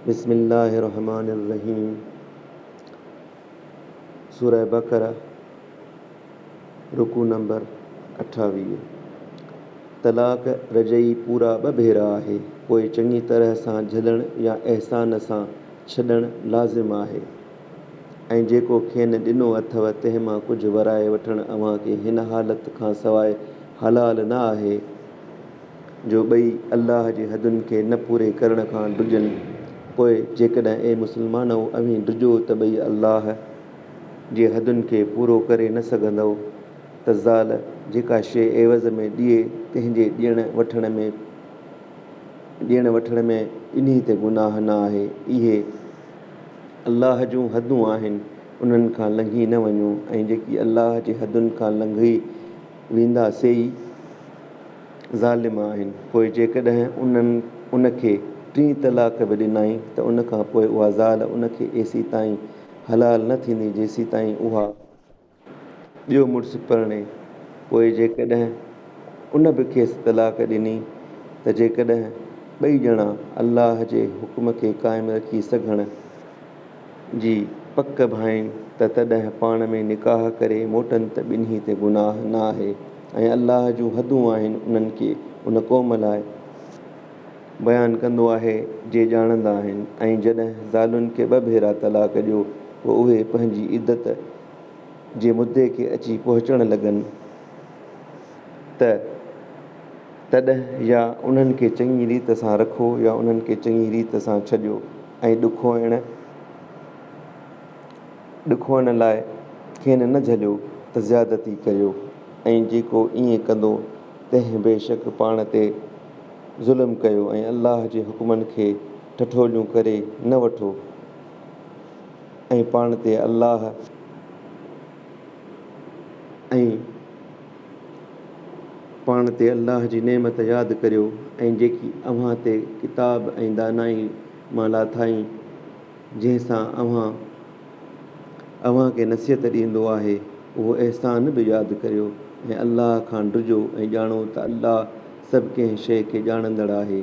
بسم الله الرحمٰن الرحيم سورة بقرة رڪوع نمبر اٺاويهه، طلاق رجعي پورا ٻه ڀيرا آهي، پوء چڱي طرح سان جهلڻ يا احسان سان ڇڏڻ لازم آهي ۽ جيڪو کين ڏنو اٿو تنهن مان ڪجهه ورائي وٺڻ اوهان کي هن حالت کان سواء حلال نه آهي، جو ٻئي الله جي حدن کي نه پوري ڪرڻ کان ڊڄن، پوء جيڪڏهن اي مسلمانؤ اوهين ڊڄو ته ٻئي الله جي حدن کي پورو ڪري نه سگهندؤ ته زال جيڪا شيء عيوض ۾ ڏئي تنهن جي ڏيڻ وٺڻ ۾ ڏيڻ وٺڻ ۾ ٻنهي تي گناهه نه آهي، اهي الله جون حدون آهن انهن کان لنگهي نه وڃو ۽ جيڪي الله جي حدن کان لنگهي ويندا سي ئي. ظالم آهن، پوء جيڪڏهن انهن ان کي ٽين طلاق به ڏنائين ته ان کان پوء اها زال ان کي ايسي تائين حلال نه ٿيندي جيسي تائين اها ٻيو مڙس پرڻي، پوء جيڪڏهن ان به کيس طلاق ڏني ته جيڪڏهن ٻئي ڄڻا الله جي حڪم کي قائم رکي سگهڻ، جي پڪ ڀائين ته تڏهن پاڻ ۾ نڪاح ڪري موٽن ته ٻنهي تي گناهه نه آهي ۽ الله جون حدون آهن انهن کي ان قوم لاء بيان ڪندو آهي جي ڄاڻندا آهن ۽ جڏهن زالن کي ٻه ڀيرا طلاق ڏيو پوء اهي پنهنجي عدت جي مدي کي اچي پهچڻ لڳن ته تڏهن يا انهن کي چڱي ريت سان رکو يا انهن کي چڱي ريت سان ڇڏيو. ۽ ڏکوئڻ ڏکوئڻ لاء کين نه جهليو ته زيادتي ڪريو ۽ جيڪو ائين ڪندو تنهن بيشڪ پاڻ تي ظلم ڪيو ۽ الله جي حڪمن کي ٺٺوليون ڪري نه وٺو ۽ پاڻ تي الله ۽ پاڻ تي الله جي نعمت ياد ڪريو ۽ جيڪي اوهان تي ڪتاب ۽ دانائي مان لاٿائين، جنهن سان اوهان اوهان کي نصيحت ڏيندو آهي، اهو احسان به ياد ڪريو ۽ الله کان ڊڄو ۽ ڄاڻو ته الله سڀ ڪنهن شيء کي ڄاڻندڙ آهي.